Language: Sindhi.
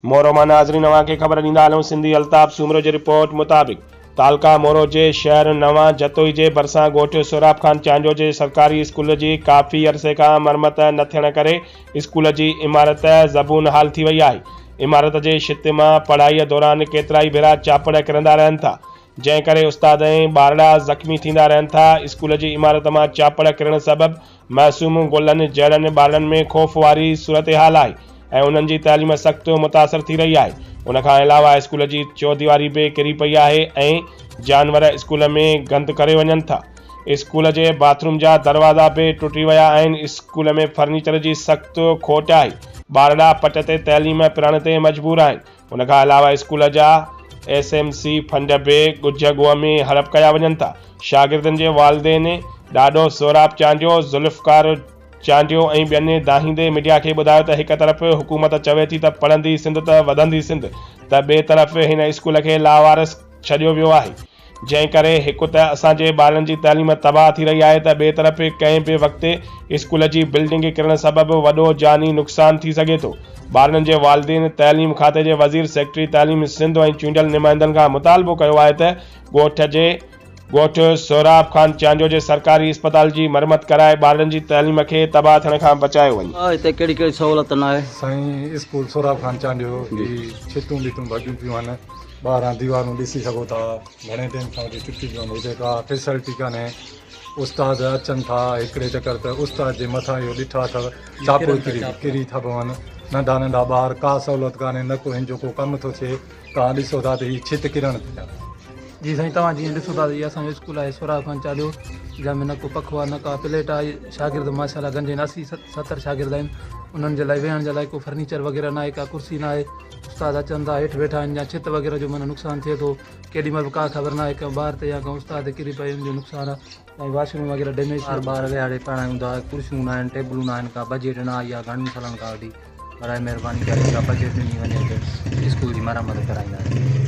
مورو مان ناظرين اوهان کي خبر ڏيندا هلون سنڌي الطاف سومرو جي رپورٽ مطابق تعلقه مورو جي شهر نوان جتوئي جي ڀرسان ڳوٺ سهراب خان چانڊيو جي سرڪاري اسڪول جي ڪافي عرصي کان مرمت نه ٿيڻ ڪري اسڪول جي عمارت زبون حال ٿي وئي آهي عمارت جي ڇت مان پڙهائي دوران ڪيترائي ڀيرا چاپڙ ڪرندا رهن ٿا جنهن ڪري استاد ۽ ٻارڙا زخمي ٿيندا رهن ٿا اسڪول جي عمارت مان چاپڙ ڪرڻ سبب معصوم گلن جهڙن ٻارڙن ۾ خوف واري صورتحال آهي ۽ انهن جي تعليم سخت متاثر ٿي رهي آهي، ان کان علاوه اسڪول جي چوديواري به ڪري پئي آهي ۽ جانور اسڪول ۾ گند ڪري وڃن ٿا، اسڪول جي باٿ روم جا دروازا به ٽٽي ويا آهن، اسڪول ۾ فرنيچر جي سخت کوٽ آهي، ٻارڙا پٽ تي تعليم پرڻ تي مجبور آهن، ان کان علاوه اسڪول جا ايس ايم سي فنڊ به ڳجهه ڳوهه ۾ هڙپ ڪيا وڃن ٿا، شاگردن جي والدين ڏاڏو سهراب چانڊيو، ذوالفقار چانڊيو ۽ ٻين دانهيندي ميڊيا کي ٻڌايو ته هڪ طرف حڪومت چوي ٿي ته پڙهندي سنڌ ته وڌندي سنڌ ته ٻئي طرف هن اسڪول کي لاوارث ڇڏيو ويو آهي، جنهن ڪري هڪ ته اسان جي ٻارن جي تعليم تباهه ٿي رهي آهي ته ٻئي طرف ڪنهن به وقت اسڪول جي بلڊنگ ڪرڻ سبب وڏو جاني نقصان ٿي سگهي ٿو ٻارن جي والدين تعليم کاتي جي وزير سيڪريٽري تعليم سنڌ ۽ چونڊيل نمائندن کان مطالبو ڪيو آهي ته ڳوٺ جي ڳوٺ سهراب خان چانڊيو جي سرڪاري اسپتال جي مرمت ڪرائي ٻارڙن جي تعليم کي تباهه ٿيڻ کان بچايو وڃي. هتي ڪهڙي ڪهڙي سهولت ناهي. سائين اسڪول سهراب خان چانڊيو جي ڇتون ٻتون ڀڳيون پيون آهن. ٻاهران ديوارون ڏسي سگهو ٿا گهڻي ٽيم کان وٺي ٽٽي پيون هجي ڪا فيسلٽي ڪانهي استاد اچن ٿا هڪڙي چڪر ته استاد جي مٿان اهو ڏٺا اٿو چاپو ڪري ٿا پون ننڍا ننڍا ٻار ڪا سهولت ڪانهي نه ڪو هن جو ڪو ڪم ٿو ٿئي توهان ڏسو ٿا ته هي ڇت ڪرڻ ٿي ٿا جي سائين توهان جيئن ڏسو ٿا ته هي اسانجو اسڪول آهي سورا خان چاليو جنهن ۾ نه ڪو پکو آهي نه ڪا پليٽ آهي شاگرد ماشاء الله گنجين اسي ستر شاگرد آهن انهن جي لاء ويهڻ جي لاء ڪو فرنيچر وغيره ناهي ڪا ڪرسي ناهي استاد اچن ٿا هيٺ ويٺا آهن يا ڇت وغيره جو معنيٰ نقصان ٿئي ٿو ڪيڏي مهل به ڪا خبر ناهي ڪنهن ٻار تي يا ڪنهن استاد تي ڪري پئي ان جو نقصان آهي ۽ واش روم وغيره ڊيميج ٿي ٻار ٻار ويهاڙي پڙهايون ٿا ڪرسيون ناهن ٽيبلون ناهن ڪا بجيٽ نه آئي آهي گهڻن سالن کان وٺي برائي مهرباني ڪري ڪا بجيٽ ڏني وڃي ته اسڪول جي مرمت ڪرائيندا